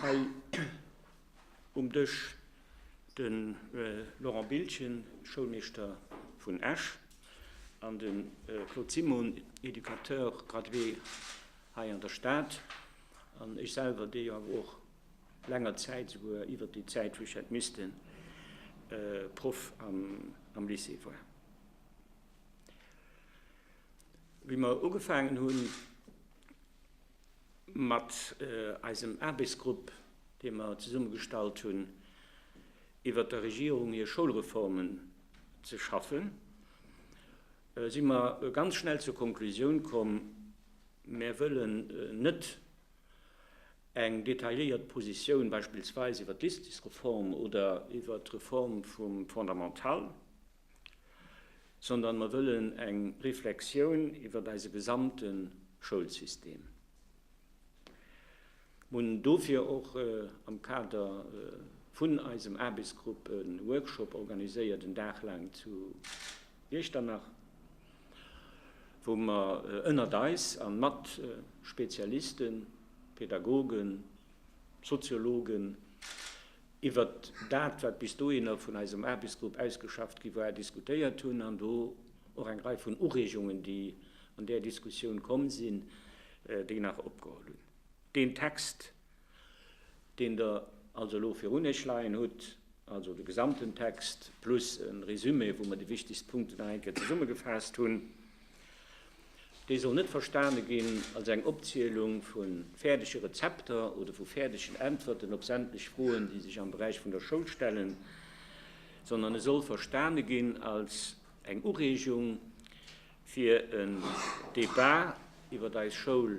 Hei um Dësch de Laurent Biltgen, Schoulmeeschter vun Esch, an de Claude Simon, Educateur gradué hei an der Stad, an ech selwer, dee jo awer och länger Zäit, souguer iwwert déi Zäit, wou ech hätt missten, Proff am Lycée war. Wéi mer ugefaangen hunn. mat eisem Aarbechtsgrupp, dee mer zesummegestallt hunn, iwwert der Regierung hir Schoulreformen ze schaffen, si mer ganz schnell zur Konklusioun komm, Mir wëllen net eng detailléiert Positioun beispillsweis iwwert d'Lystesreform oder iwwert d'Reform vum Fondamental sondern mer wëllen eng Reflexioun iwwert eise gesamte Schoulsystem hunn, dofir och am Kader vun eisem Aarbechtsgrupp e Workshop organiséiert, en Dag laang zu Iechternach, wou mer ënnert eis a mat Spezialisten, Pädagogen, Soziologen, iwwert dat, wat bis dohinner vun eisem Aarbechtsgrupp ausgeschafft gi war, diskutéiert hunn an do och eng Rei vun Ureegungen, déi an där Diskussioun komm sinn, déi nach opgeholl hunn. Deen Text, deen Der also elo virun Iech leien hutt, also de gesamten Text plus e Résumé, wou mer déi wichtegst Punkten nach eng Kéier zesummegefaasst hunn, Déi soll net verstane ginn als eng Opzielung vu fäerdege Rezepter oder vu fäerdegen Äntwerten op sämtlech Froen, déi sech am Beräich vun der Schoul stellen, sondern e soll verstane ginn als eng Ureegung fir en Debat iwwert eis Schoul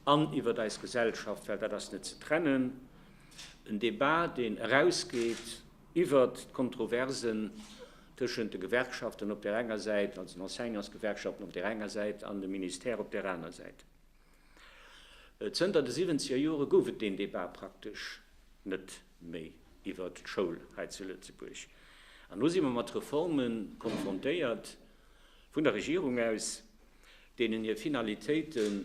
an iwwert eis Gesellschaft, well dat ass net ze trennen, en Debat, deen erausgeet Iwwert d'Kontroversen tëschent de Gewerkschaften op där enger Säit, also den Enseignantsgewerkschaften op där enger Säit an dem Ministère op där aner Säit. Zënter de siwwenzeger Jore gouf et deen Debat praktesch net méi iwwert d'Schoul hei zu Lëtzebuerg. An elo si mer mat Reforme konfrontéiert vun der Regierung aus, deenen hir Finalitéiten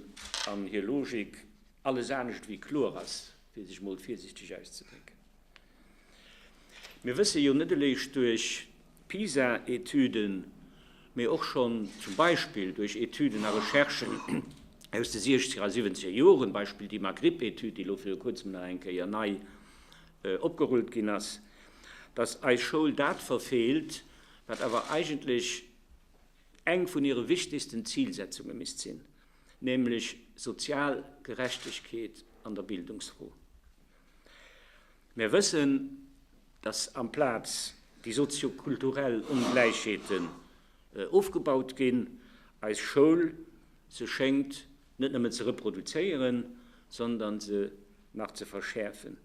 an hir Logik alles anescht ewéi kloer ass, fir sech emol virsiichteg auszedrécken. Mir wësse jo net eréischt duerch d'PISA-Etüden, mee och schonn zum Beispill duerch Etüden a Recherchen aus de siechzeger a siwwenzeger Joren, Beispill déi Maghrib-Etüd, déi elo viru kuerzem nach eng Kéier nei opgerullt ginn ass, dass eis Schoul dat verfeelt, wat awer eigentlech eng vun hire wichtegsten Zilsetzunge misst sinn, nämlech sozial Gerechtegkeet an der Bildungsfro. Mir wëssen, dass amplaz déi soziokulturell Ongläichheeten ofgebaut ginn, eis Schoul se schéngt net nëmmen ze reproduzéieren, sondern se nach ze verschäerfen.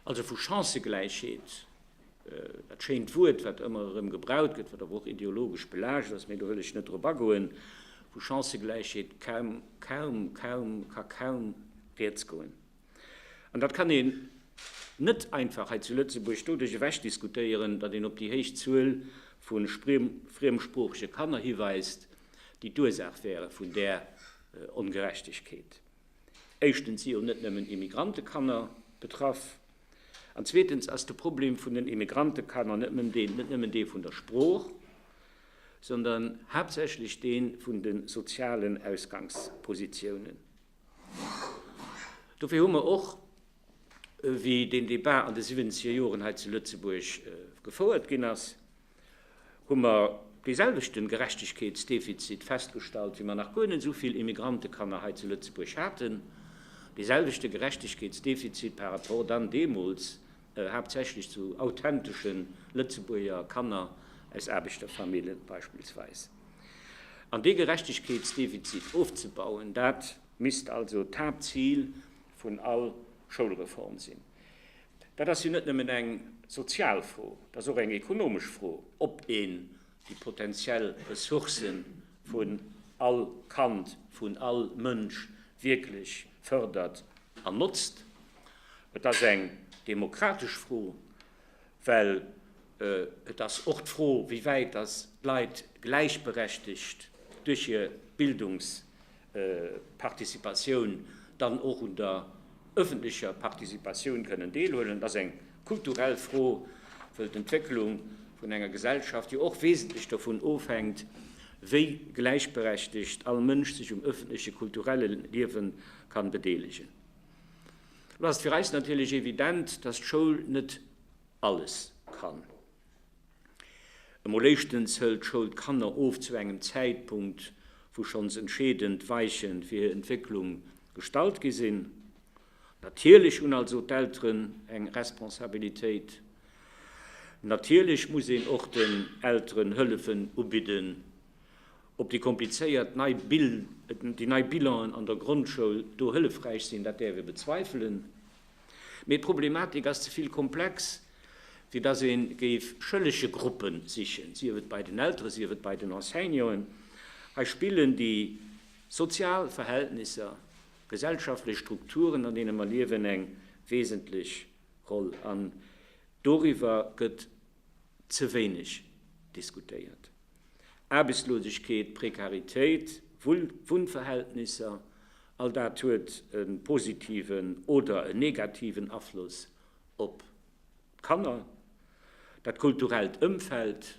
Also vu Chancëgläichheet, dat schéint Wuert, wat ëmmer erëm gebraucht gëtt, wat awer och ideologesch belaascht ass, mee do wëll ech net drop agoen, vu Chancëgläichheet ka kaum rieds goen. An dat kann een net einfach hei zu Lëtzebuerg doduerch ewechdiskutéieren, datt een op déi héich Zuel vu friemsproochege Kanner hiweist, déi d'Ursaach wäre vun där Ongerechtegkeet. Éischtens si jo net nëmmen Immigrantekanner betraff. An zweetens ass de Problem vun den Immigrantekanner net nëmmen dee vun der Sprooch, sondern haaptsächlech dee vun de sozialen Ausgangspositiounen. Dofir hu mer och, wéi deen Débat an de siwwenzeger Joren hei zu Lëtzebuerg gefouert ginn ass, hu mer deeselwechten Gerechtegkeetsdefizit festgestallt, wéi mer nach guer net esou vill Immigrantekanner hei zu Lëtzebuerg haten, deeselwechte Gerechtegkeetsdefizit par rapport dann deemools haaptsächlech zu authenteschen Lëtzebuerger Kanner aus Aarbechterfamillen beispillsweis. An dee Gerechtegkeetsdefizit ofzebauen, dat misst also d'Haaptzil vun all Schoulreform sinn. Dat ass jo net nëmmen eng sozial Fro, et ass och eng ekonomesch Fro, ob een déi potentiell Ressourcë vun all Kand, vun all Mënsch wierklech fërdert an notzt. Et ass eng demokratesch Fro. Well et ass och d'Fro, wéi wäit datt d'Leit gläichberechtigt duerch hir Bildungsparticipatioun dann och un der öffentlecher Participatioun kënnen deelhuelen. Et ass eng kulturell Fro, well d'Entwécklung vun enger Gesellschaft jo och wesentlech dovun ofhänkt, wéi gläichberechtigt all Mënsch sech um öffentleche kulturelle Liewe kann bedeelegen. Lo ass et fir eis natierlech evident, dass d'Schoul net alles kann. Emol éischtens hëlt d'Schoul d'Kanner of zu engem Zäitpunkt, wou schonns entscheedend Weiche fir hir Entwécklung gestallt gi sinn. Natierlech hunn also d'Elteren eng Responsabilitéit. Natierlech muss een och den Elteren Hëllefen ubidden Ob déi komplizéiert nei Bilanen an der Grondschoul do hëllefräich sinn, dat däerf ee bezweifelen. Mee d'Problematik ass ze vill komplex, fir datt ee géif schëllege Gruppe sichen, sief et bei den Eltere sief et bei den Enseignanten. Hei spillen déi sozial Verhältnisser, gesellschaftlech Strukturen, an deene mer liewen, eng wesentlech Roll. An doriwwer gëtt ze wéineg diskutéiert. Aarbechtslosegkeet, Prekaritéit, Wunnverhältnisser, all dat huet e positiven oder e negativen Afloss op d'Kanner. Dat kulturellt Ëmfeld,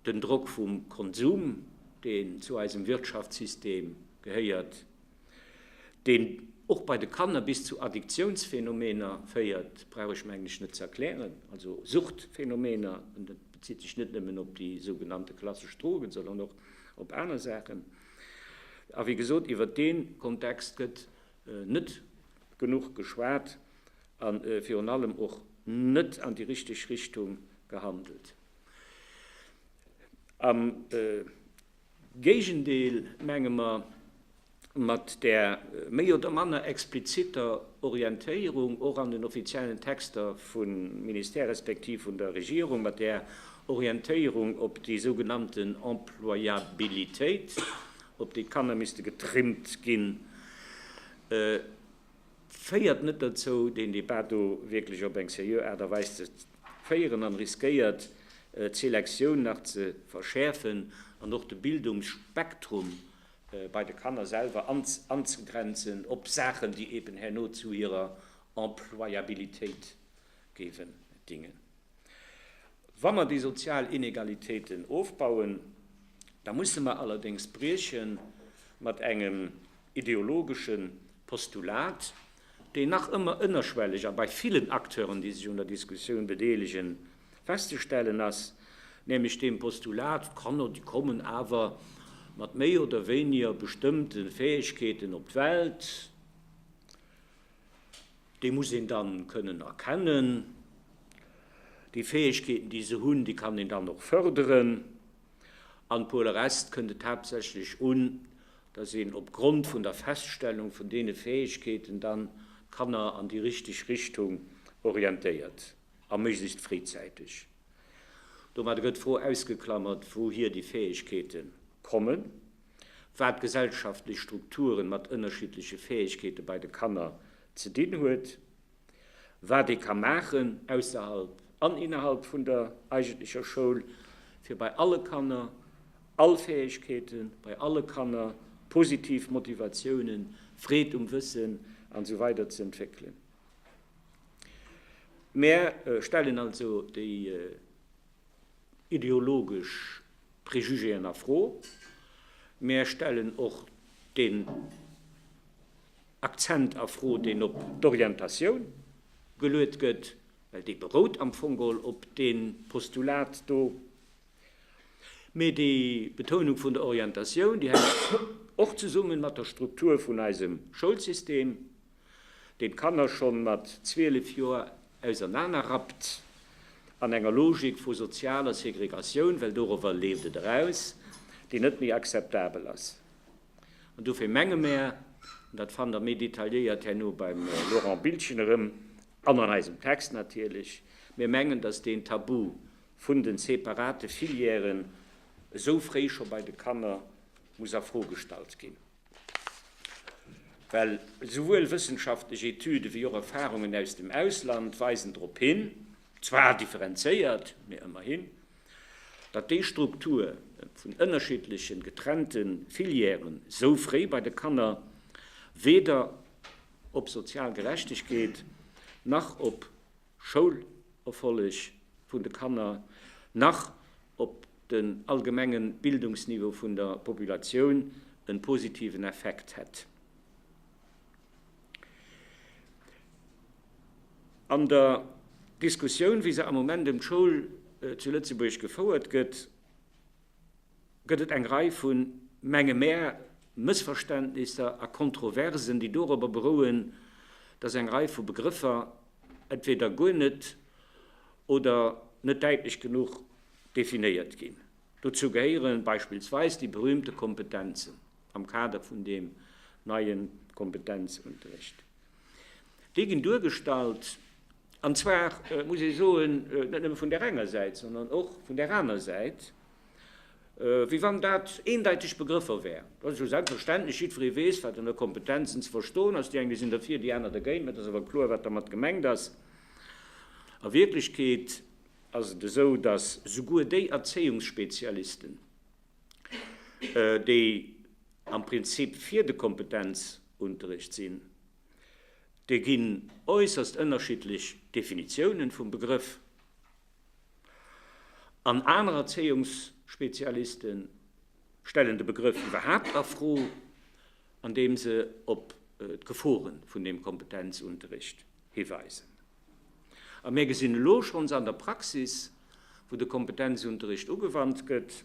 den Drock vum Konsum, deen zu eisem Wirtschaftssystem gehéiert, deen och bei de Kanner bis zu Addiktiounsphänomener féiert, brauch ech mengen ech net ze erklären, also Suchtphänomener, an dat bezitt sech net nëmmen op déi sougenannte klassesch Drogen, sondern och op aner Saachen. A wéi gesot, iwwert dee Kontext gëtt net genuch geschwat a virun allem och net an déi richteg Richtung gehandelt. Am Géigendeel, menge mer, mat där méi oder manner explizitter Orientéierung, och an den offiziellen Texter vum Ministère respektiv vun der Regierung, mat där Orientéierung op déi sougenannten Employabilitéit, op déi d'Kanner misste getrimmt ginn. féiert net dozou, deen Debat do wierklech op eng seriö Aart a Weis ze féieren an riskéiert, d'Selektioun nach ze verschäerfen an och de Bildungsspektrum bei de Kanner selwer anzegrenzen op Saachen, déi eben herno zu hirer Employabilitéit géifen dingen. Wa mer déi sozial Inegalitéiten ofbauen, da musse mer allerdéngs brieche mat engem ideologesche Postulat, deen nach ëmmer ënnerschwelleg a bei villen Acteuren, déi sech un der Diskussioun bedeelegen, festzestellen ass, nämlech deem Postulat, Kanner, déi kommen awer mat méi oder wéiniger bestëmmte Fäegkeeten op d'Welt. Déi muss een dann kënnen erkennen. Déi Fäegkeeten, déi se hunn, déi kann een dann och förderen. An pour le reste kënnt et haaptsächlech un, dass een op Grond vun der Feststellung vun deene Fäegkeeten dann d'Kanner an déi richtig Richtung orientéiert, a méiglechst fréizäiteg. Domadder gëtt d'Fro ausgeklammert, wouhier déi Fäegkeete kommen. wat gesellschaftlech Strukturen mat ënnerschiddleche Fäegkeete bei de Kanner ze dinn huet, wat ee ka maachen ausserhalb an innerhalb vun der eigentlecher Schoul, fir bei alle Kanner all Fäegkeeten, bei alle Kanner positiv Motivatiounen, Freed um Wëssen an esou weider ze entwéckelen. Mär stellen also déi ideologesch Préjugéen a Fro. Mär stellen och deen Akzent a Fro, deen op d'Orientatioun geluet gëtt, well dee berout am Fong geholl op dee Postulat do. Mee déi Betounung vun der Orientatioun, déi hänkt och zesummen mat der Struktur vun eisem Schoulsystem. deen d'Kanner schonn mat 12 Joer ausernanerrappt, an enger Logik vu sozialer Segregatioun, well dorowwer leeft et eraus, déi net méi akzeptabel ass. An dofir menge mär, an dat fannt Der méi detailléiert herno beim Laurent Biltgen erëm, an an eisem Text natierlech, mir mengen, dass deen Tabu vun de separate Filièren esou fréi scho bei de Kanner muss a Fro gestallt ginn. Well souwuel wëssenschaftlech Etüde wéi och Erfarungen aus dem Ausland weisen drop hin, zwar differenzéiert, mee ëmmerhin, datt déi Struktur vun ënnerschiddlechen, getrennte Filièren sou fréi bei de Kanner weder op sozial Gerechtegkeet nach op Schoulerfolleg vun de Kanner nach op den allgemenge Bildungsniveau vun der Populatioun en positiven Effekt hätt. An der Diskussioun, wéi se am Moment ëm d'Schoul zu Lëtzebuerg gefouert gëtt, gëtt et eng Rei vu, menge mär, Mëssverständnisser a Kontroversen, déi dorobber berouen, dass eng Rei vu Begrëffer entweder guer net oder net däitlech genuch definéiert ginn. Dozou gehéiere beispillsweis déi berühmte Kompetenzen am Kader vun deem neie Kompetenzunterrecht. Déi ginn duergestallt An zwar muss ee soen, net nëmme vun där enger Säit, sondern och vun där aner Säit, wéi wann dat eendeiteg Begrëffer wären. Dat ass jo selbstverständlech, jiddweree weess, wat ënner Kompetenzen ze verstoen ass. Déi eng, déi sinn derfir, déi aner dergéint. Mä et ass awer kloer, wat dermat gemengt ass. A Wierklechkeet ass et esou, datt souguer déi Erzéiungsspezialisten, déi am Prinzip fir de Kompetenzunterrecht sinn, Et ginn äusserst ënnerschiddlech Definitiounen vum Begrëff an aner Erzéiungsspezialiste stellen de Begrëff iwwerhaapt a Fro, andeem se op d'Gefore vun deem Kompetenzunterricht hiweisen. A mir gesinn elo schonns an der Praxis, wou de Kompetenzunterricht ugewannt gëtt,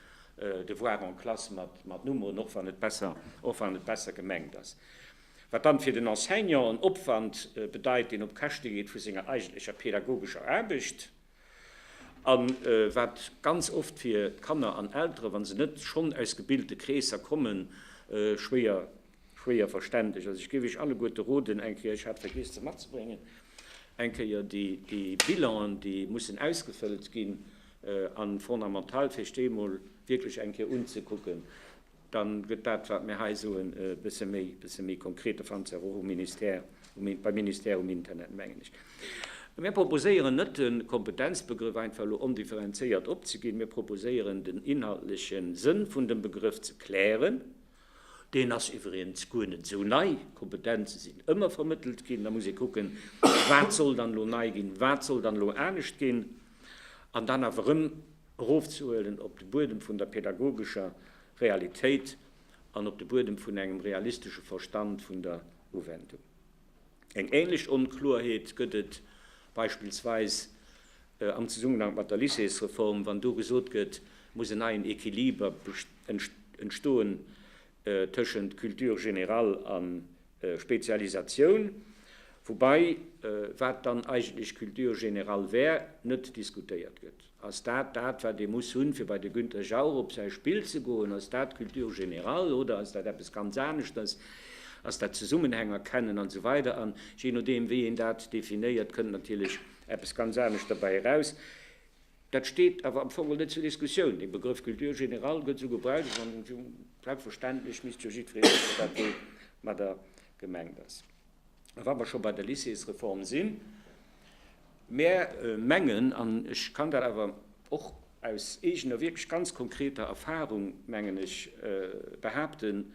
Devoir en classe mat Numm un, och wann et besser gemengt ass. Wat dann fir den Enseignant en Opwand bedeit, deen op Käschte geet vu senger eigentlecher pädagogescher Aarbecht, a wat ganz oft fir d'Kanner an Elteren, wa se net schonn aus gebilte Kreesser kommen, schwéier Schwéier verständlech. Also ech géif iech alleguerte roden, eng Kéier, ech hat vergiess se matzebréngen, eng Kéier déi Bilanen, déi mussen ausgefëllt ginn, an fondamental fir sech déi emol wierklech eng Kéier unzekucken, dann gëtt dat, wat mir hei soen, e bësse méi, e bësse méi konkret. Dat fannt se awer och um Ministère, beim Ministère um Internet, mengen ech. Mir proposéieren net, de Kompetenzbegrëff einfach elo ondifferenzéiert opzeginn. Mir proposéieren, den inhaltleche Sënn vun dem Begrëff ze klären Deen ass iwwregens guer net esou nei. Kompetenze sinn ëmmer vermëttelt ginn. Da muss ee kucken, wat soll dann elo nei ginn, wat soll dann elo anescht ginn, an dann awer erëm erofzehuelen op de Buedem vun der pädagogescher Realitéit an op de Buedem vun engem realistesche Verstand vun der Uwendung. Eng ähnlech Onkloerheet gëtt et beispillsweis am Zesummenhank mat der Lycéesreform, wann do gesot gëtt, et muss en neien Equiliber entstoen tëschent Culture générale a Spezialisatioun, woubäi, wat dann eigentlech Culture générale wär, net diskutéiert gëtt. Ass dat dat, wat ee muss hunn, fir bei de Günter Jauch op säi Spill ze goen? Ass dat Culture générale oder ass dat eppes ganz aneschters? Ass dat Zesummenhäng erkennen an esou weider? An jee nodeem, wéi een dat definéiert, kënnt natierlech eppes ganz anescht derbäi eraus. Dat steet awer am Fong net zur Diskussioun. Dee Begrëff Culture générale gëtt esou gebraucht an selbstverständlech misst jo jiddweree wëssen, wat do mat der gemengt ass. Wa mer scho bei der Lycéesreform sinn, Mär mengen, an ech kann dat awer och aus eegener wierklech ganz konkreter Erfahrung, mengen ech, behaapten,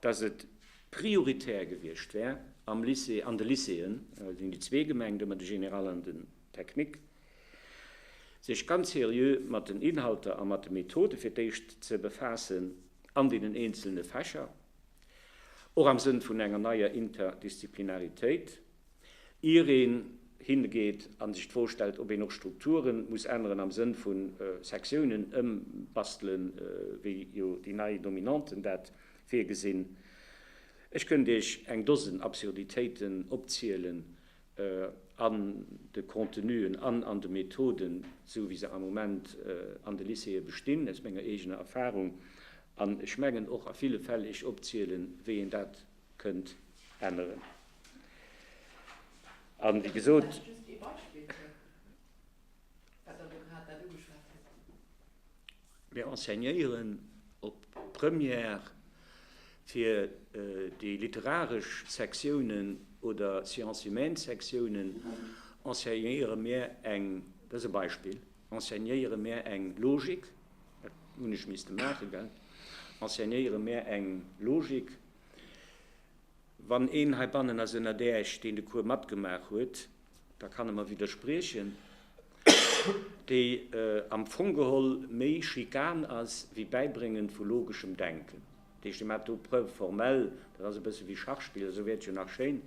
dass et prioritär gewiescht wär am Lycée, an de Lycéeën, et sinn déi zwee gemengt, ëmmer de Général an den Technique, sech ganz seriö mat den Inhalter a mat de Methode fir d'éischt ze befaassen an deenen eenzelne Fächer. och am Sënn vun enger neier Interdisziplinaritéit, ier een hingeet a sech d'Fro stellt, ob een och Strukture muss änneren am Sënn vu Sektiounen ëmbastelen, wéi jo déi nei Dominanten dat virgesinn. Ech kënnt Iech eng Dosen Absurditéiten opzielen, an de Contenuen an an de Methoden, esou wéi se am Moment an de Lycéeë bestinn, aus menger eegener Erfahrung, an ech mengen och a ville Fäll ech opzielen, wéi een dat kënnt änneren. A wéi gesot. Wat Der do grad dat ugeschwat hutt. Mir enseignéieren op Première fir déi literaresch Sektiounen oder Sciences humaines Sektiounen enseignéiere mir eng, dat ass e Beispill, enseignéiere mir eng Logik, dat hunn ech misste maachen, gell, enseignéiere mir eng Logik. Wann een heibannen ass ënnert Äech, deen de Cours matgemaach huet, da kann e mer widderspriechen, déi am Fong geholl méi Schikan ass wéi Bäibréngen vu logeschem Denken. Dat heescht, Dir maacht do Preuve formelle, dat ass e bësse wéi Schachspill, esou wäert jo nach schéin,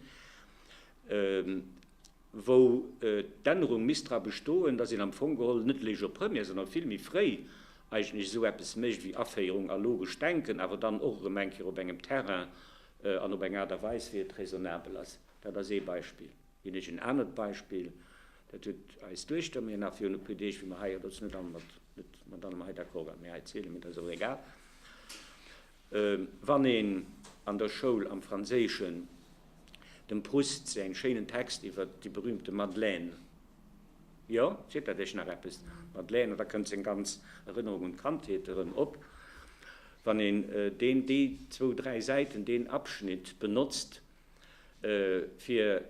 wou d'Ännerung misst dra bestoen, datt een am Fong geholl net Léisch op Première, sondern vill méi fréi eigentlech esou eppes mécht wéi Aféierung a logescht Denken, awer dann och erëm eng Kéier op engem Terrain an op eng Aart a Weis, wéi et raisonnabel ass. Dat ass ee Beispill. Ginn ech en anert Beispill, Dat huet eis Duechter mir nach virun e puer Deeg, wéi mer hei, jo, dat ass net all mat, net mat allem hei d'accord waren, mee hei erzählen, mee dat ass och egal, wann een an der Schoul am Franséischen dem Proust säin schéinen Text iwwer déi berühmte Madeleine, jo, seet dat iech nach eppes? D'Madeleine, an da kënnt seng ganz Erënnerung un d'Kandheet erëm op, wann een deen déi zwou, dräi Säiten, deen Abschnitt benotzt, fir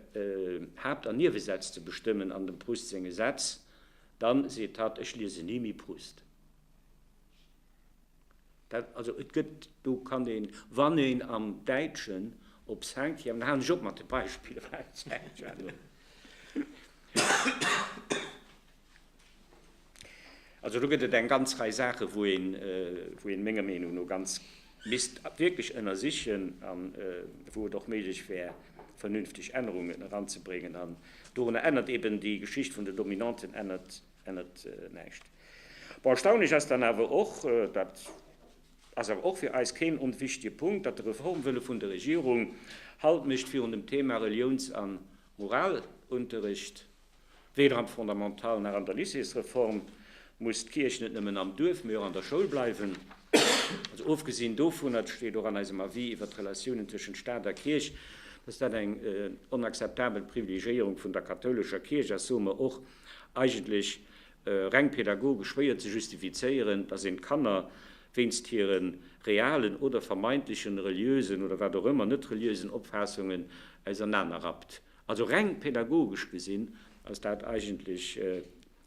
Haapt an Niewesätz ze bestëmmen an dem Proust senge Sätz, dann seet hatt, ech liesen ni méi Proust. Dat, also et gëtt, do kann een, wann een am Däitschen op Cinquième, da halen ech op mat de Beispiller, well Cinquième. Also do gëtt et eng ganz Rei Saache wou ee menger Meenung no ganz misst wierklech ënnersichen a wou et och méiglech wär vernünfteg Ännerungen eranzebréngen. An dorunner ännert eeben déi Geschicht vun den Dominanten ännert näischt. Bon, erstaunlech ass dann awer och, dat ass awer och fir eis keen onwichtige Punkt, datt de Reformwëlle vun der Regierung Halt mécht virun dem Thema Reliouns a Moralunterrecht. Weder am Fondamental nach an der Lycéesreform muss d'Kierch net nëmmen am Duerf, mee och an der Schoul bleiwen. Also ofgesinn dovunner, et steet och an eisem Avis iwwert d'Relatiounen tëschent Staat a Kierch, dass dat eng onakzeptabel Privilegiéierung vun der kathoulescher Kierch ass, soe mer och eigentlech reng pädagogesch, wéi et ze justifizéieren, dass een d'Kanner wéinst hire realen oder vermeintlechen, reliösen oder wat och ëmmer net reliösen Opfaassungen ausernanerrappt. Also reng pädagogesch gesinn ass dat eigentlech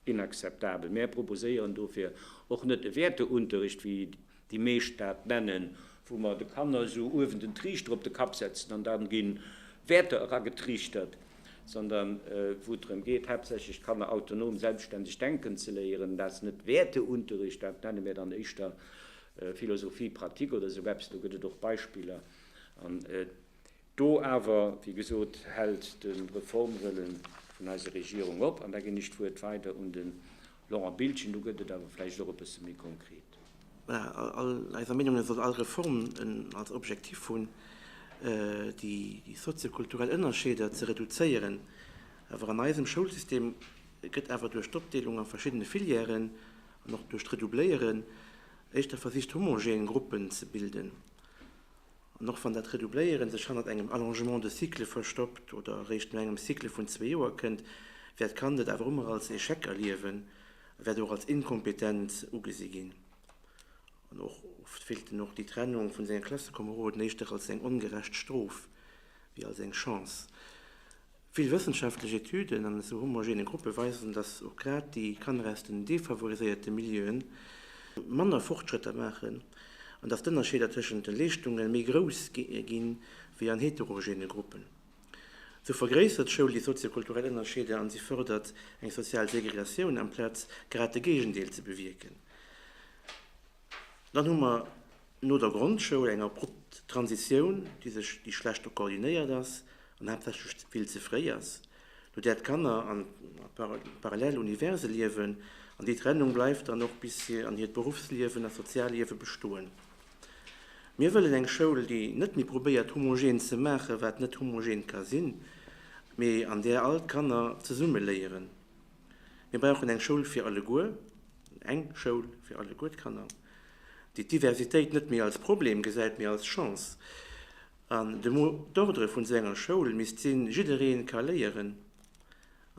inakzeptabel. Mär proposéieren dofir och net e Wäerteunterricht, wéi déi meescht dat nennen, wou mer de Kanner esou uewen den Triichter op de Kapp setzen an dann ginn Wäerter eragetriichtert, sondern wou et drëm geet, haaptsächlech d'Kanner autonom, selbstständig denken ze léieren. Dat ass net Wäerteunterricht, dat nenne mär dann éischter Philosophie pratique oder esou eppes. Do gëtt et och Beispiller. Do awer, wéi gesot, hält de Reformwëlle vun eiser Regierung op. An da ginn ech d'Wuert weider un den Laurent Biltgen. Do gëtt et awer vläicht och e bësse méi konkret. Voilà, all eiser Meenung no soll all Reform als Objektiv hunn, déi soziokulturell Ënnerscheeder ze reduzéieren. Awer an eisem Schoulsystem gëtt awer duerch d'Opdeelung a verschiddene Filièren an och duerch d'Redoubléieren éischter versicht, homogen Gruppen ze bilden. An och wann dat Redoubléiere sech hannert engem Allongement de cycle verstoppt oder eréischt no engem Cycle vun zwee Joer kënnt, wäert d'Kand et awer ëmmer als Echec erliewen a wäert och als Inkompetenz ugesi ginn. An och oft fillt en och déi Trennung vun senge Klassekomeroden éischter als eng ongerecht Strof wéi als eng Chance. Vill wëssenschaftlech Etüden an esou homogene Gruppe weisen, datt och grad déi Kanner aus den defavoriséierte Milieue manner Fortschrëtter maachen an datt d'Ënnerscheeder tëschent de Leeschtunge méi grouss gi wéi an heterogene Gruppen. Sou vergréissert d'Schoul déi sozio-kulturell Ënnerscheeder an si fërdert eng sozial Segregatioun amplaz grad de Géigendeel ze bewierken. Dann hu mer. No der Grondschoul, eng abrupt Transitioun, déi sech, déi schlecht do koordinéiert ass an haaptsächlech vill ze fréi ass, no där d'Kanner an parallel Universe liewen, an déi Trennung bleift dann och bis si an hiert Beruffsliewen a Sozialliewe bestoen. Mir wëllen eng Schoul, déi net méi probéiert homogen ze maachen, wat net homogen ka sinn, mee an där all d'Kanner zesumme léieren. Mir brauchen eng Schoul fir alleguer, eng Schoul fir alleguer d'Kanner. déi d'Diversitéit net méi als Problem gesäit, mee als Chance, an de Mot d'ordre vun esou enger Schoul misst sinn, Jiddereen ka léieren.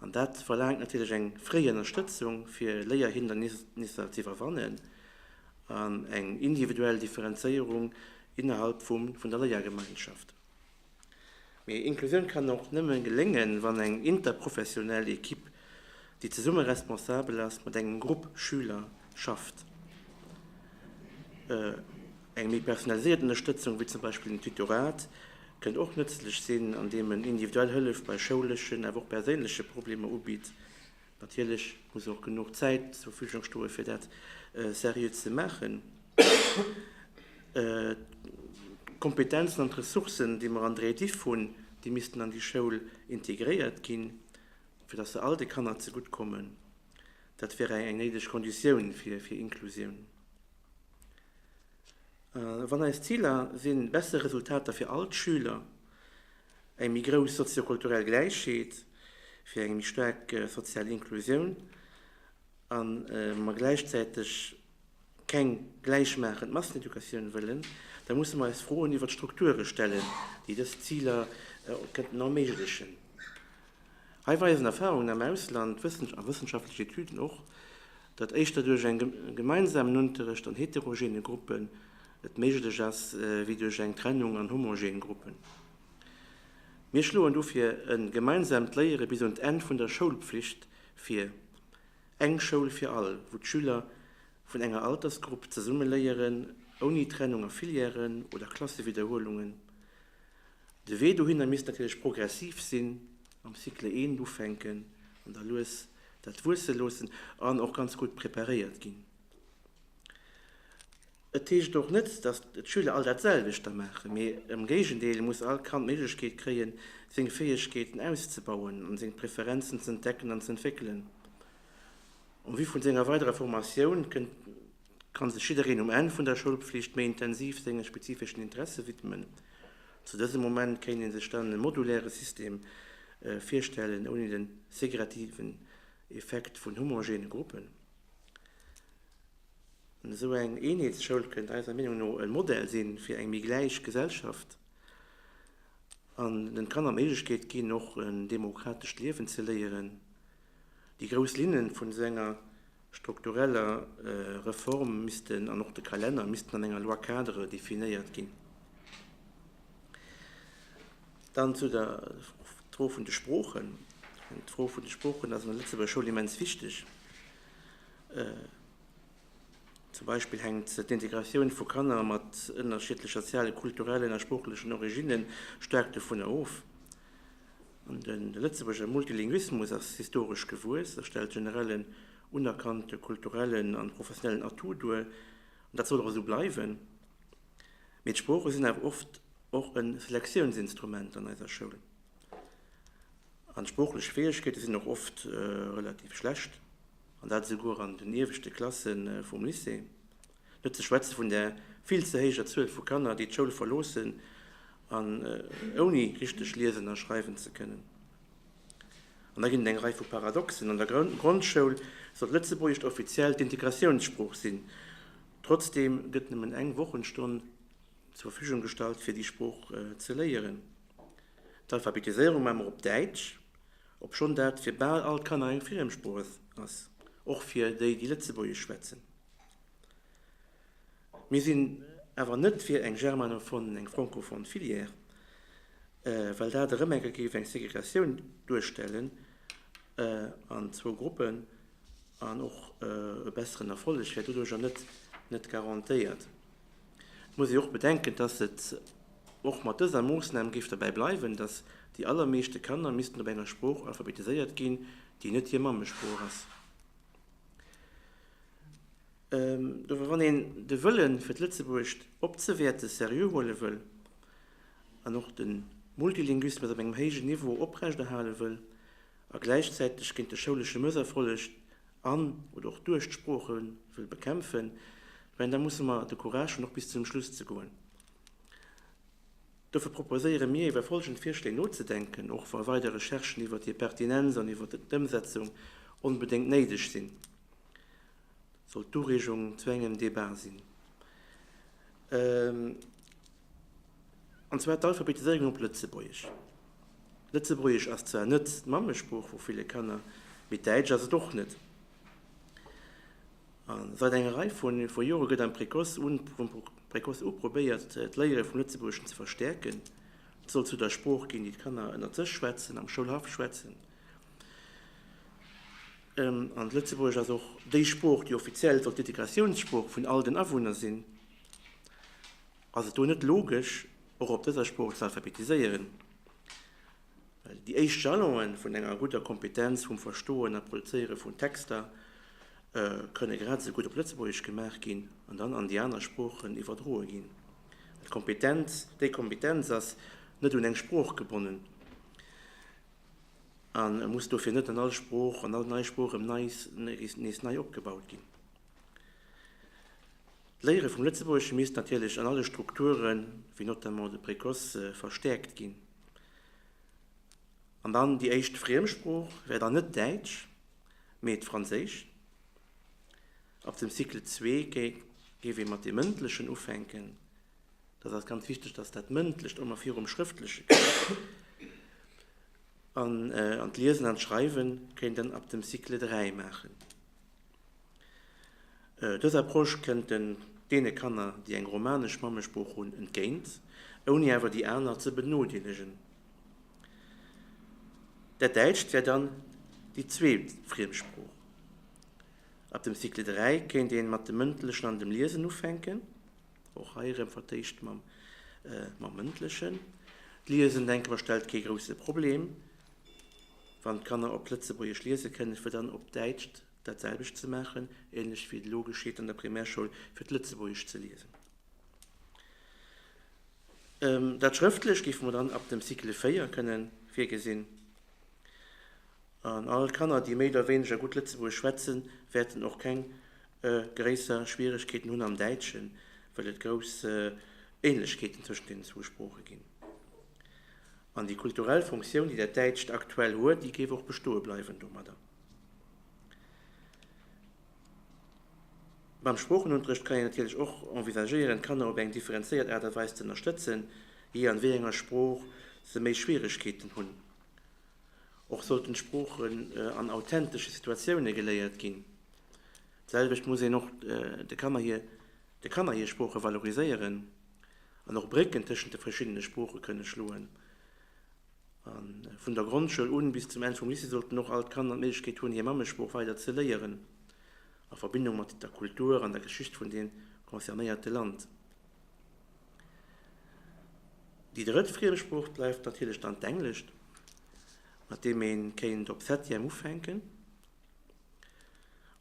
An dat verlaangt natierlech eng fréi Ënnerstëtzung, fir Léierhindernisser z'iwwerwannen, an eng individuell Differenzéierung innerhalb vum vun der Léiergemeinschaft. Mee Inklusioun kann och nëmmen geléngen, wann eng interprofessionell Ekipp, déi zesumme responsabel ass, mat engem Grupp Schüler schafft. Eng méi personaliséiert Ënnerstëtzung, wéi zum Beispill den Tutorat, kënnt och nëtzlech sinn, andeem en individuell Hëllef bei schouleschen, awer och perséinleche Problemer ubitt. Natierlech muss och genuch Zäit zur Verfügung stoen, fir dat seriö ze maachen. D'Kompetenzen an d'Ressourcen, déi mer an der Ediff hunn, déi missten an déi Schoul integréiert ginn, fir dass se all de Kanner zegutt kommen. Dat wär eng néideg Konditioun fir Inklusioun. Wann eis Ziler sinn, besser Resultater fir all d'Schüler, eng méi grouss soziokulturell Gläichheet, fir eng méi staark sozial Inklusioun a mer gläichzäiteg keng gläichmaachend Masseneducatioun wëllen, da musse mer eis Froen iwwert d'Strukture stellen, déi dës Ziler kënnten erméiglechen. Hei weisen Erfarungen am Ausland a wëssenschaftlech Etüden och, datt éischter duerch eng gemeinsam Nunterëcht an heterogene Gruppen et méiglech ass wéi duerch eng Trennung an homogen Gruppen. Mir schloen dofir e gemeinsamt Léiere bis un d'Enn vun der Schoulpflicht vir, eng Schoul fir all, wou d'Schüler vun enger Altersgrupp zesumme léieren, ouni Trennung a Filièren oder Klassewidderhuelungen, De Wee dohinner misst natierlech progressiv sinn, mam Cycle 1 ufänken an da lues dat wuesse loossen an och ganz gutt preparéiert ginn. Et heescht och net, datt d'Schüler all dat selwecht da maachen, mee am Géigendeel, et muss all Kand d'Méiglechkeet kréie seng Fäegkeeten auszebauen an seng Preferenzen z'entdecken an z'entwéckelen en vue vun senger weiderer Formatioun. Kann sech jiddereen um Enn vun der Schoulpflicht méi intensiv senge spezifeschen Interesse widmen? Zu dësem Moment kéint ee sech dann e moduläre System virstellen, ouni den segretiven Effekt vun homogene Gruppen. Esou eng Eenheetsschoul kënnt eiser Meenung no e Modell si fir eng méi gläich Gesellschaft an den Kanner d'Méiglechkeet ginn, och en demokratescht Liewen ze léieren. Déi grouss Linne vun esou enger struktureller Reform missten an och de Kalenner missten an enger Loi-cadre definéiert ginn. Dann zu der Fro vun de Sproochen. D'Fro vun de Sproochen ass an der Lëtzebuerger Schoul immens wichteg. Zum Beispill hänkt d'Integratioun vu Kanner mat ënnerschiddlecher sozialen, kulturellen a sproochlechen Originnen staark dovunner of, De Lëtzebuerger Multilinguismus ass historesch gewuess a stellt generell en unerkannte kulturellen a professionellen Atout duer. Dat soll och esou bleiwen. Mee d'Sprooche sinn awer oft och e Selektiounsinstrument an eiser Schoul. An d'sproochlech Fäegkeete sinn och oft relativ schlecht, an dat esouguer an den ieweschte Klasse vum Lycée. Net ze schwätze vun der vill ze héijer Zuel vu Kanner, déi d'Schoul verloossen, ouni richteg liesen a schreiwen ze kënnen. An da ginn et eng Rei vu Paradoxen, An der Grondschoul soll d'Lëtzebuergescht offiziell d'Integratiounssprooch sinn, trotzdeem gëtt nëmmen eng Wochenstonn zur Verfügung gestallt, fir déi Sprooch ze léieren. D'Alphabetiséierung maache mer op Däitsch, obschonn dat fir bal all d'Kanner eng Friemsprooch ass, och fir déi, déi Lëtzebuergesch schwätzen. Mir sinn awer net fir eng germanophone, eng francophone Filière, well dat erëm eng Kéier géif eng Segregatioun duerstellen an zwou Gruppen, an och e besseren Erfolleg wär doduerjer net garantéiert. Et muss ee och bedenken, dass et och mat dëser Moossnam géif dobäi bleiwen, dass déi allermeeschte Kanner missten op enger Sprooch alphabetiséiert ginn, déi net hir Mammesprooch ass. Dofir, wann een de Wëllen, fir d'Lëtzebuergescht opzewäerten, seriö huele wëll an och de Multilinguismus op engem héijen Niveau oprechterhale wëll a gläichzäiteg géint de schoulesche Mësserfolleg an oder och duerch d'Sprooche wëll bekämpfen, mä da musse mer de Courage hunn, och bis zum Schluss ze goen. Dofir proposéiere mir, iwwer folgend Virschléi nozedenken, och wa weider Recherchen iwwer hir Pertinenz an iwwer d'Ëmsetzung onbedéngt néideg sinn. Dat soll d'Ureegung zu engem Debat sinn. An zwar d'Alphabetisierung op Lëtzebuergesch. Lëtzebuergesch ass zwar net d'Mammesprooch vu ville Kanner, mee Däitsch ass et och net. Säit enger Rei vu Jore gëtt am Précoce u probéiert, d'Léiere vum Lëtzebuergeschen ze verstäerken. Et soll zu der Sprooch ginn, déi d'Kanner ënnert sech schwätzen, am Schoulhaff schwätzen. An d'Lëtzebuergesch ass och déi Sprooch, déi offiziell soll d'Integratiounssprooch vun all den Awunner sinn. Ass et do net logesch, och op dëser Sprooch ze alphabetiséieren? Well déi éischt Jalonë vun enger gudder Kompetenz vum Verstoen a Produzéiere vun Texter kënne grad esou gutt op Lëtzebuergesch gemaach ginn an dann an déi aner Sproochen iwwerdroe ginn. D'Kompetenz, déi Kompetenz ass net un eng Sprooch gebonnen a muss dofir net an all Sprooch, an all nei Sprooch erëm nees nei opgebaut ginn. D'Léiere vum Lëtzebuergesche misst natierlech an alle Strukturen, wéi notamment de Précoce, verstäerkt ginn. An dann déi éischt Friemsprooch wär dann net Däitsch, mee d'Franséisch. Ab dem Cycle 2 géif ee mat deem Mëndlechen ufänken. Dat ass ganz wichteg, dass dat Mëndlecht ëmmer virum Schrëftleche kënnt. An d'Liesen an d'Schreiwe kéint een ab dem Cycle 3 maachen. Dës Approche kënnt deene Kanner, déi eng romanesch Mammesprooch hunn, entgéint, ouni awer déi aner ze benodeelegen. Dat Däitscht wär dann déi zweet Friemsprooch. Ab dem Cycle 3 kéint ee mat dem Mëndlechen an dem Liesen ufänken, och hei erëm vertéischt mam Mëndlechen. D'Liesen, denke mer, stellt kee grousse Problem. Wann d'Kanner op Lëtzebuergesch liese kënnen, fir dann op Däitsch dat selwecht ze maachen, ähnlech wéi et elo geschitt an der Primärschoul, fir d'Lëtzebuergesch ze liesen. Dat Schrëftlecht géife mer dann ab dem Cycle 4 kënne virgesinn. An all Kanner, déi méi oder wéineger gutt Lëtzebuergesch schwätzen, wäerten och keng gréisser Schwieregkeeten hunn am Däitschen, well et grouss Ähnlechkeeten tëschent deenen zwou Sprooche ginn. An déi kulturell Funktioun, déi dat Däitscht aktuell huet, déi géif och bestoe bleiwen domadder. Beim Sproochenunterrecht kann een natierlech och envisagéieren, d'Kanner op eng differenzéiert Aart a Weis ze ënnerstëtzen, jee an wéi enger Sprooch se méi Schwieregkeeten hunn. Och sollten d'Sproochen an authentesche Situatioune geléiert ginn. D'selwecht muss een och de Kanner hir Sprooche valoriséieren. an och Brécken tëschent de verschiddene Sprooche kënne schloen. A vun der Grondschoul un bis zum Enn vum Lycée sollten och all d'Kanner d'Méiglechkeet hunn, hir Mammesprooch weider ze léieren, a Verbindung mat der Kultur an der Geschicht vun deem concernéierte Land. Déi drëtt Friemsprooch bleift natierlech dann d'Englescht, mat deem ee kéint op Septième ufänken.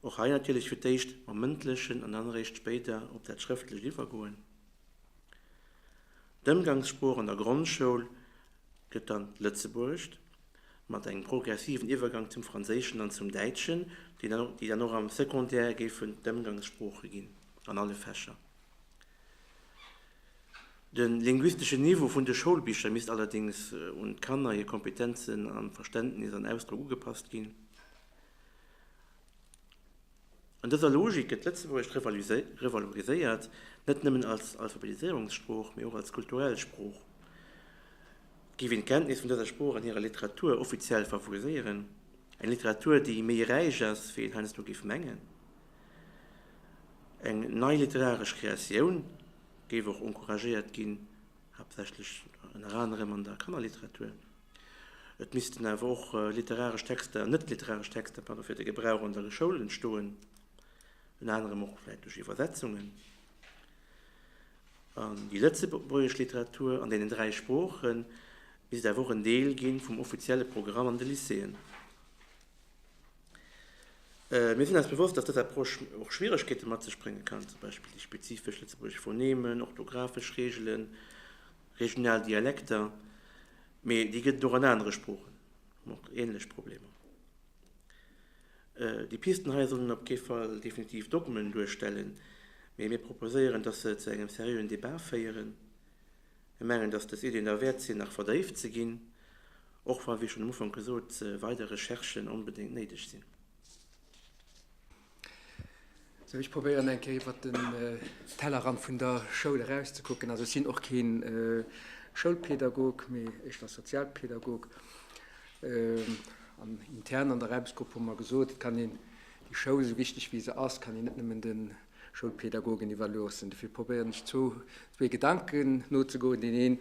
Och hei natierlech fir d'éischt mam Mëndlechen an dann eréischt spéider op dat Schrëftlecht iwwergoen. D'Ëmgangssprooch an der Grondschoul gëtt dann d'Lëtzebuergescht, mat engem progressiven Iwwergang zum Franséischen an zum Däitschen, déi dann och am Secondaire géifen d'Ëmgangssprooche ginn an alle Fächer. De linguisteschen Niveau vun de Schoulbicher misst allerdéngs un d'Kanner hir Kompetenzen a Verständnis an Ausdrock ugepasst ginn. An dëser Logik gëtt Lëtzebuergesch revaloriséiert, net nëmmen als Alphabetiséierungssprooch, mee och als kulturell Sprooch. Géif een d'Kenntnis vun dëser Sprooch an hirer Literatur offiziell favoriséieren, eng Literatur, déi méi räich ass, wéi een heiansdo géif mengen, eng nei literaresch Kreatioun géif och encouragéiert ginn, haaptsächlech ënner anerem an der Kannerliteratur. Et missten awer och literaresch Texter, net literaresch Texter, pardon, fir de Gebrauch an der Schoul entstoen, ënner anerem och vläicht duerch Iwwersetzungen an déi lëtzebuergesch Literatur an deenen dräi Sproochen, misst awer och en Deel gi vum offizielle Programm an de Lycéeën. Mir sinn eis bewosst, dass dës Approche och Schwieregkeete mat sech brénge kann, zum Beispill déi spezifesch lëtzebuergesch Phonemen, orthografesch Reegelen, Regional Dialekter, mee déi gëtt et och an anere Sproochen, hu mer och ähnlech Problemer. Déi Pisten hei sollen op kee Fall definitiv Dogmen duerstellen, mee mir proposéieren, dass se zu engem seriöen Debat féieren. Mir mengen, dass dës Iddien derwäert sinn, nach verdéift ze ginn, och wa, wéi schonn am Ufank gesot, weider Recherchen onbedéngt néideg sinn. So, ich probéieren eng Kéier iwwer den äh, Tellerrand vun der Schoul erauszekucken. Also sinn och keen äh, Schoulpädagog, mee ech war Sozialpädagog. Äh, an intern an der Räbesgrupp hu mer gesot, et kann een déi Schoul, esou wichteg wéi se ass, kann een net nëmmen den Schoulpädagogen iwwerloossen. Dofir probéieren ech zwou, zwee Gedanken nozegoen, deen een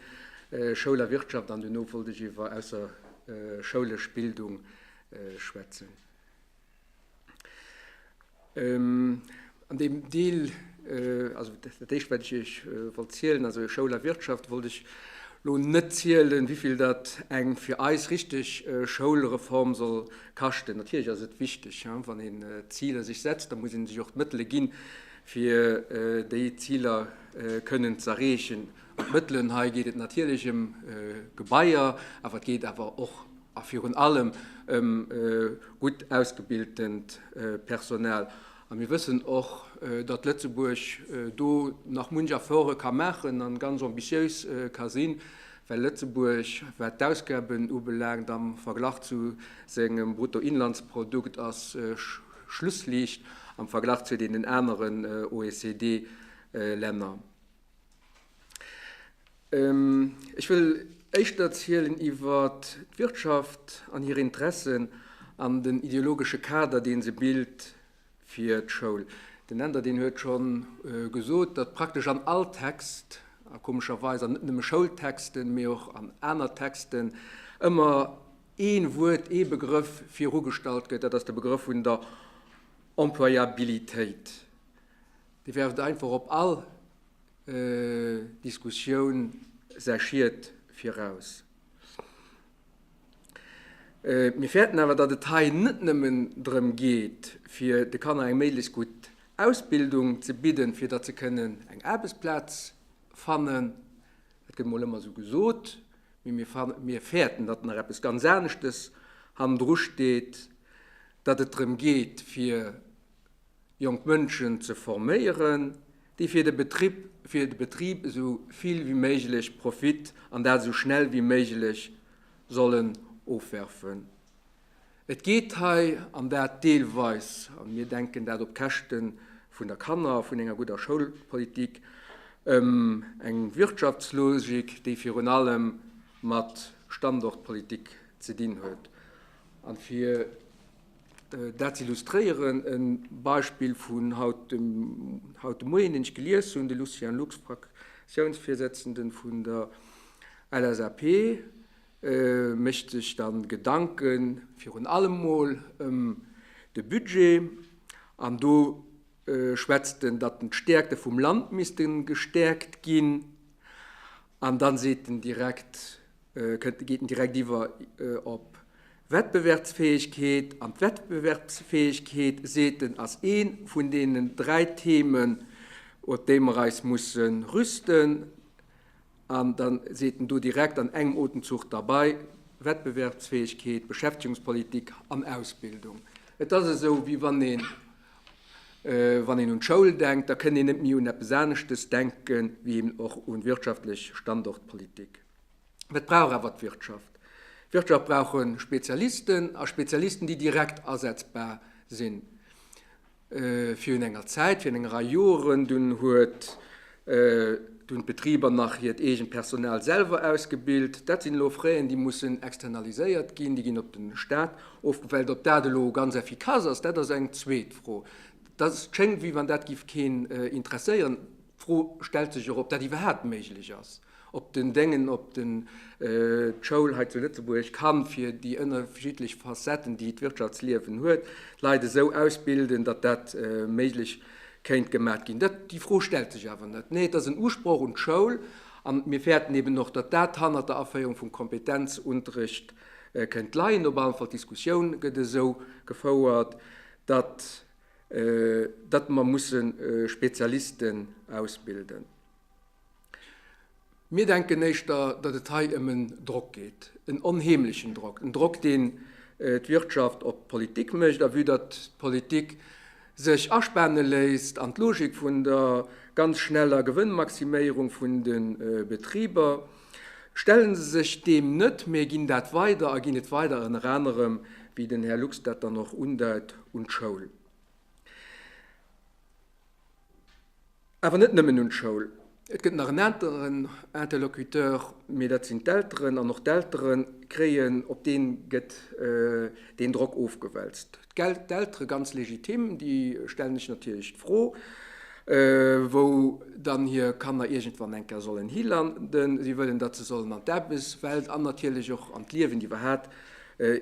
äh, Schoul a Wirtschaft, an duerno wollt ech iwwer ausserschoulech Bildung schwätzen. An deem Deel, also dat Éischt, wat ech Iech wollt zielen, also Schoul a Wirtschaft, wollt ech elo net zielen, wéivill dat eng fir eis richtig Schoulreform soll kaschten. Natierlech ass et wichteg, wann een Ziler sech setzt, da muss ee sech och d'Mëttele ginn, fir déi Ziler kënnen z'erreechen. Mat Mëttelen hei geet et natierlech ëm Gebaier, awer et geet awer och a virun allem ëm gutt ausgebiltent Personal. A mir wëssen och, datt Lëtzebuerg do nach munch Efforte ka maachen a ganz ambitiéis ka sinn, well Lëtzebuerg, wat d'Ausgaben ubelaangt am Verglach zu sengem Bruttoinlandsprodukt a Schlussliicht am Verglach zu deenen aneren OECD-Länner. Ech wëll éischter erzielen iwwer d'Wirtschaft an hir Interessen an den ideologesche Kader, dee se bilt fir d'Schoul. Den Änder deen huet scho gesot, datt praktesch an all Text a komescherweis an net nëmme Schoultexten, mee och an aner Texten ëmmer ee Wuert, ee Begrëff virugestallt gëtt, dat ass de Begrëff vun der Employabilitéit. Dee werft einfach op all Diskussioun säi Schied viraus. Mir fäerten awer, datt et hei net nëmmen drëm geet, fir de Kanner eng méiglechst gutt Ausbildung ze bidden, fir datt se kënnen eng Aarbechtsplaz fannen. Dat gëtt mol ëmmer esou gesot, mee mir fäerten, datt nach eppes ganz aneschtes hannendru steet, datt et drëm geet, fir jonk Mënschen ze forméieren, déi fir de Betrib, fir de Betrib esou vill wéi méiglech Profit, an dat esou schnell wéi méiglech, sollen ofwerfen. Et geet hei, an dat deelweis, an mir denken dat op Käschte vun der Kanner, vun enger gudder Schoulpolitik, ëm eng Wirtschaftslogik, déi virun allem mat Standortpolitik ze dinn huet. An fir. Dat z'illustréieren, e Beispill vun haut de Moien, deen ech gelies hunn, de Lucien Lux, Fraktiounsvirsëtzenden vun der LSAP, mécht sech da Gedanke virun allem emol ëm de Budget an do schwätzt en, datt d'Stäerkte vum Land misste gestäerkt ginn an da seet en direkt, Kënnt, geet en direkt iwwer op Wettbewerbsfäegkeet. An d'Wettbewerbsfäegkeet, seet en, ass ee vun deenen dräi Themen, op déi mer eis musse rüsten. An da seet en do direkt an engem Otemzuch derbei, Wettbewerbsfäegkeet, Beschäftigungspolitik an Ausbildung. Et ass esou, wéi wann een, wann een un d'Schoul denkt, da kënn een net méi un eppes aneschtes denken, wéi eben och un wirtschaftlech Standortpolitik. Dat brauch awer d'Wirtschaft. D'Wirtschaft brauch e Spezialisten a Spezialisten, déi direkt asetzbar sinn, virun enger Zäit, virun enger Rei Joren. Dunn huet, dunn hunn d'Betriber nach hiert eegent Personal selwer ausgebilt. Dat sinn elo Frais, déi mussen externaliséiert ginn, déi ginn op de Staat ofgewälzt. Ob dat elo ganz effikass ass, dat ass eng zweet Fro. Dat schéngt, wéi wann dat géif keen interesséieren. D'Fro stellt sech och, ob dat iwwerhaapt méiglech ass. op den Déngen, op den d'Schoul hei zu Lëtzebuerg kann fir déi ënnerschiddlech Facetten, déi d'Wirtschaftsliewen huet, d'Leit esou ausbilden, datt dat méiglech kéint gemat ginn. Dat, déi Fro stellt sech awer net. Nee, et ass en Usproch un d'Schoul. An mir fäerten eben och, datt dat hannert der Aféierung vum Kompetenzunterrecht kënnt leien. Op allen Fall d'Diskussioun gëtt esou gefouert, datt datt mer musse Spezialisten ausbilden. Mir denken éischter, datt et hei ëm en Drock geet, en onheemlechen Drock, en Drock, deen d'Wirtschaft op d'Politik mécht, a vue datt d'Politik sech aspaane léisst an d'Logik vun der ganz schneller Gewënnmaximéierung vun de Betriber, stelle se sech deem net, mä ginn dat weider a ginn et weider ënner anerem, wéi den Här Lux dat dann och undeit, un d'Schoul. Awer net nëmmen un d'Schoul. Et gëtt nach en aneren Interlocuteur, mee dat sinn d'Elteren. An och d'Eltere kréien, op dee gëtt deen Drock ofgewälzt. D'Eltere, ganz legitim, déi stellen sech natierlech d'Fro, wou dann hir Kanner iergendwann eng Kéier sollen hilanden. Si wëllen, datt se sollen an d'Aarbechtswelt an natierlech och an d'Liewen iwwerhaapt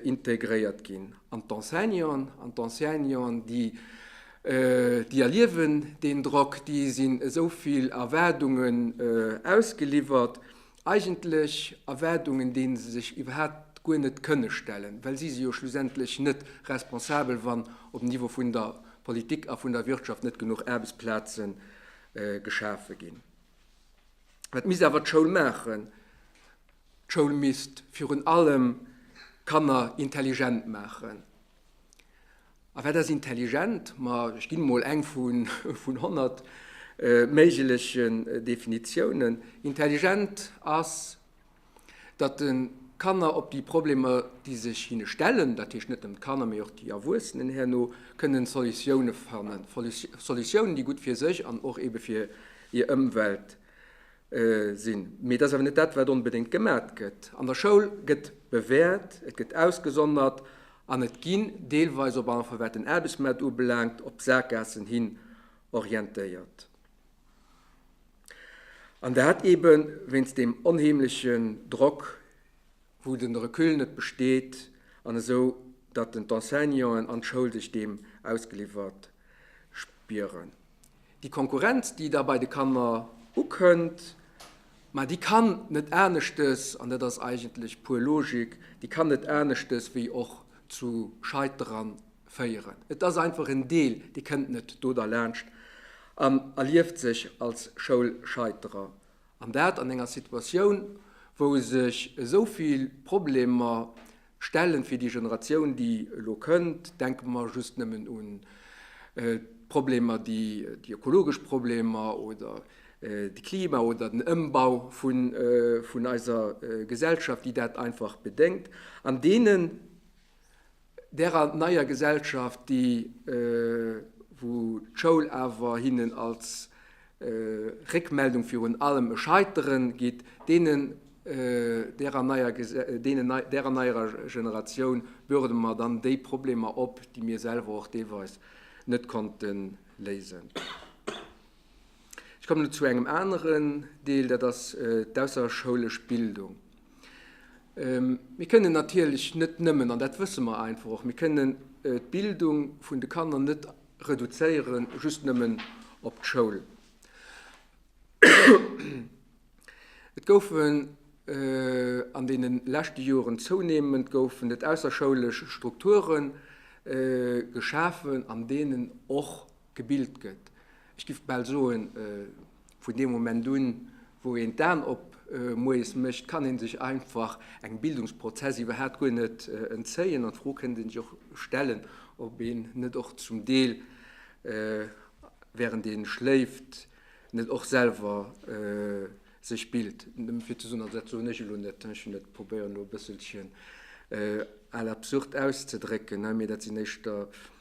integréiert ginn. An d'Enseignanten, an d'Enseignanten, déi Déi erliewen deen Drock, déi sinn esou vill Erwaardungen ausgeliwwert, eigentlech Erwaardungen, déi se sech iwwerhaapt guer net kënne stellen, well si si jo schlussendlech net responsabel, wann op Niveau vun der Politik a vun der Wirtschaft net genuch Aarbechtsplaze geschafe ginn. Wat misst awer d'Schoul maachen? D'Schoul misst virun allem d'Kanner intelligent maachen. A wat ass intelligent? Ma ech ginn emol eng vun honnert méiglechen Definitiounen. Intelligent ass, datt de Kanner op déi Problemer, déi sech hinne stellen, dat heescht net nëmmen d'Kanner, mee och déi Erwuessenen herno, kënnen Solutioune fannen, Solutiounen, déi gutt fir sech an och ebe fir hir Ëmwelt sinn. Mee dat ass awer net dat, wat onbedéngt gemat gëtt. An der Schoul gëtt bewäert, et gëtt ausgesondert an et ginn deelweis op einfach, wat den Aarbechtsmaart ubelaangt, op d'Sakgaassen hin orientéiert. An dat eeben wéinst deem onheemlechen Drock, wou den Recul net besteet an esou datt den d'Enseignanten an d'Schoul sech deem ausgeliwwert spieren. Déi Konkurrenz déi da bei de Kanner ukënnt, ma déi kann net aneschtes, an dat ass eigentlech puer Logik, déi kann net aneschtes wéi och zu Scheitere féieren. Et ass einfach en Deel dee kënnt net do derlaanscht an erlieft sech als Schoulscheiterer An dat an enger Situatioun, wou sech esou vill Problemer stellen, fir déi Generatioun, déi elo kënnt. Denke mer just nëmmen un d'Problemer, déi ökologesch Problemer oder de Klima oder den Ëmbau vun eiser Gesellschaft, déi dat einfach bedéngt. An deenen Därer neier Gesellschaft, déi, wou d'Schoul awer hinnen als Réckmeldung virun allem e Scheiteren gitt, deenen, därer neier, deenen, därer neierer Generatioun bürdele mer dann déi Problemer op, déi mir selwer och deelweis net konnte léisen. Ech kommen elo zu engem aneren Deel, dat ass d'ausserschoulesch Bildung. Mir kënnen natierlech net nëmmen, an dat wësse mer einfach och, mir kënnen d'Bildung vun de Kanner net reduzéiere just nëmmen op d'Schoul. Et goufen an deene leschte Joren zounehmend goufen et ausserschoulesch Strukture geschafen, an deenen och Gebilt gëtt. Ech giff bal soen, vun deem Moment un, wou een d'Aan op moies mécht, kann een sech einfach engem Bildungsprozess iwwerhaat guer net entzéien. An d'Fro kënnt een sech och stellen, ob een net och zum Deel, während een schléift, net och selwer sech bilt. Nëmmen fir ze soen, also dat soen ech elo net, ech probéieren elo e bësselchen à l'absurde auszedrécken, mee dat sinn éischter,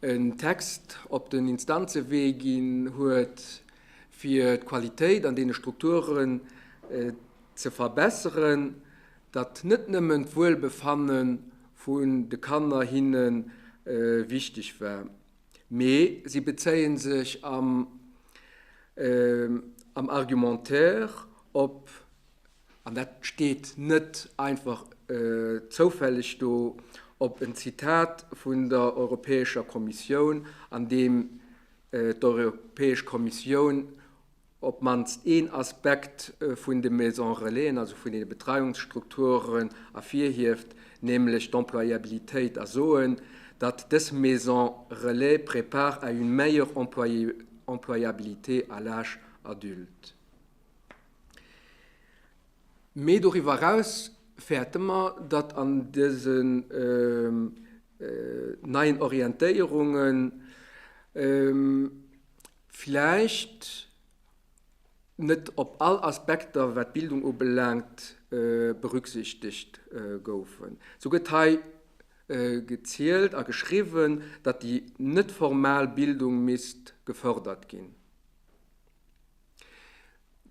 en Text op den Instanzewee ginn huet, fir d'Qualitéit an deene Strukturen ze verbesseren, datt net nëmmen d'Wuelbefanne vun de Kanner hinne wichteg war, mee si bezéie sech am Argumentaire op an dat steet net einfach zoufälleg do, op en Zitat vun der Europäescher Kommissioun, an deem d'Europäesch Kommissioun op d'mannst een Aspekt vun de Maison-relaisen, also vun deene Betreiungsstrukturen, ervirhieft, nämlech d'Employabilitéit, a soen, datt dës Maisons relais préparent à une meilleure employabilité à l'âge adulte. Mee doriwwer eraus fäerte mer, datt an dësen neien Orientéierungen vläicht net op all Aspekter, wat d'Bildung ubelaangt, berücksichtegt goufen. Sou gëtt hei gezielt a geschriwwen, datt déi net-formal Bildung misst gefërdert ginn.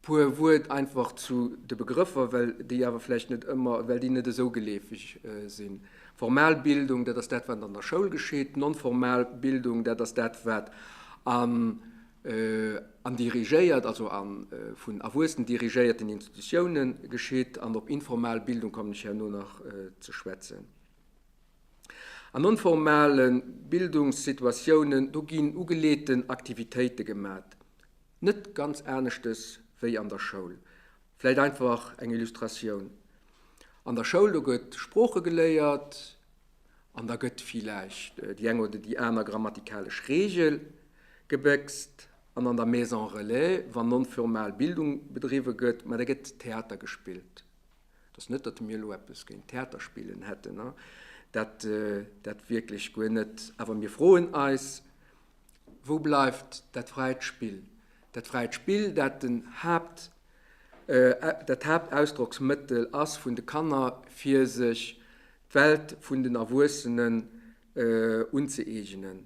Puer Wuert einfach zu de Begrëffer, well déi awer vläicht net ëmmer, well déi net esou geleefeg sinn. Formal Bildung, dat ass dat, wat an der Schoul geschitt. Non-formal Bildung, dat ass dat, wat an dirigéiert, also a vun Erwuessen dirigéierten Institutiounen geschitt. An op informal Bildung kommen ech herno nach ze schwätzen. An non-formale Bildungssituatiounen, do ginn ugeleeten Aktivitéite gemat, net ganz aneschtes wéi an der Schoul. Vläit einfach eng Illustratioun, An der Schoul, do gëtt Sprooche geléiert an da gëtt villäicht déi eng oder déi aner grammatikalesch Reegel gebéckst. An an der Maison relais, wann non-formal Bildung bedriwwe gëtt, ma da gëtt Theater gespillt. Et ass net, datt mir elo eppes géint Theaterspillen hätten, dat wierklech guer net. Awer mir froen eis, Wou bleift dat fräit Spill? Dat fräit Spill, dat dat Haaptausdrocksmëttel ass vun de Kanner, fir sech d'Welt vun den Erwuessenen unzëeegenen.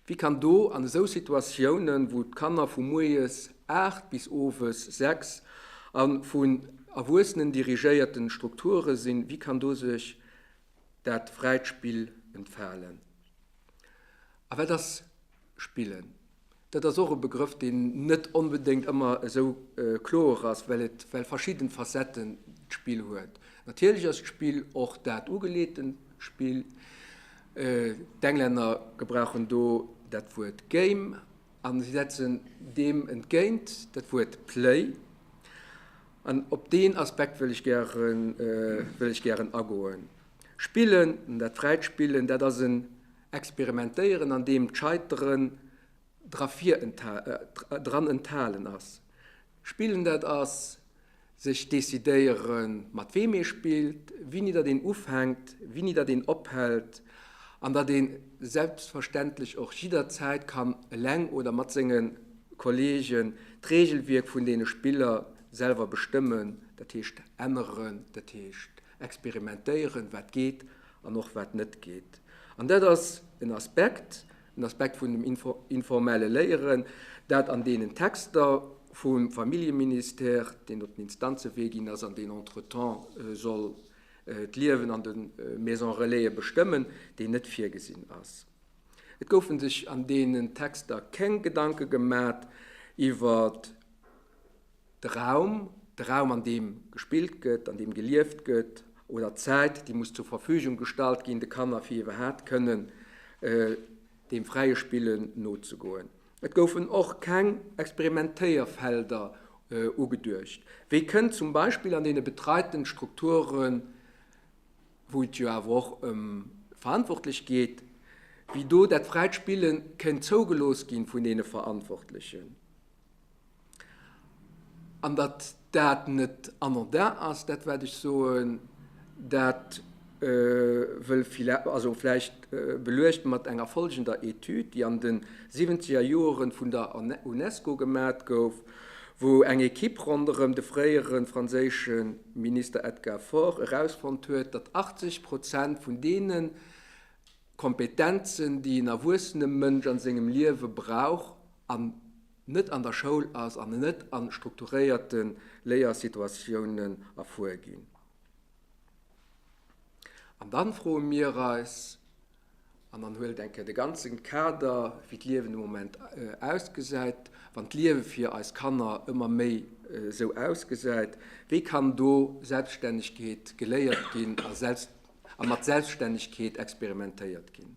Wie kann do an esou Situatiounen, wou d'Kanner vu moies 8 bis owes 6 a vun Erwuessenen dirigéierten Strukture sinn, wie kann do sech dat fräit Spill entfalen? A wat ass spillen? Dat ass och e Begrëff, deen net onbedéngt ëmmer esou kloer ass, well et well verschidden Facetten d'Spill huet. Natierlech ass d'Spill och dat ugeleeten Spill, D'Englänner gebrauchen do dat Wuert game an si setzen deem entgéint dat Wuert play. An op deen Aspekt wëll ech gären, wëll ech gären agoen. Spillen, dat fräit Spillen, dat ass en Experimentéieren, an deem d'Scheiteren dra vir, dran enthalen ass. Spillen, dat ass. Sech decidéieren, mat weem ee spillt, wini datt een ufänkt, wini datt een ophält, an datt ee selbstverständlech och jidderzäit kann eleng oder mat senge Kolleegen d'Reegelwierk vun deene Spiller selwer bestëmmen, dat heescht änneren, dat heescht experimentéieren, wat geet an och wat net geet. An dat ass en Aspekt, Den Aspekt vun dem informelle Léieren, dat an deenen Texter vum Familljeministère, deen op den Instanzewee ginn ass an deen entretemps soll d'Liewen an de Maison-relaise bestëmmen, deen net virgesinn ass. Et goufe sech an deenen Texter keng Gedanke gemat iwwert. De Raum, de Raum an deem gespillt gëtt, an deem gelieft gëtt, oder d'Zäit, déi muss zur Verfügung gestallt ginn de Kanner, fir iwwerhaapt kënnen deem fräie Spillen nozegoen. Et goufen och keng Experimentéierfelder ugeduecht, wéi kënnt zum Beispill an deene betreiten Strukturen, wou et jo awer och ëm d'Verantwortlech geet, wéi do dat fräit Spillen kéint zougelooss gi vun deene Verantwortlechen. An datt dat net anodin ass, dat wat ech soen, dat wëll vläicht beluecht mat enger follgender Etüd, déi an de siwwenzeger Joere vun der UNESCO gemat gouf, wou eng Ekipp ronderëm de fréiere franséische Minister Edgar Faure erausfonnt huet, datt 80 Prozent vun deene Kompetenzen, déi en erwuessene Mënsch a sengem Liewe brauch, an net an der Schoul ass an net a strukturéierte Léiersituatiounen erfuer ginn. An dann froe mir eis, an dann huelt eng Kéier de ganze Kader, wéi d'Liewen de Moment ausgesäit, wann d'Liewe fir eis Kanner ëmmer méi esou ausgesäit, wéi kann do Selbststännegkeet geléiert ginn a mat Selbststännegkeet experimentéiert ginn?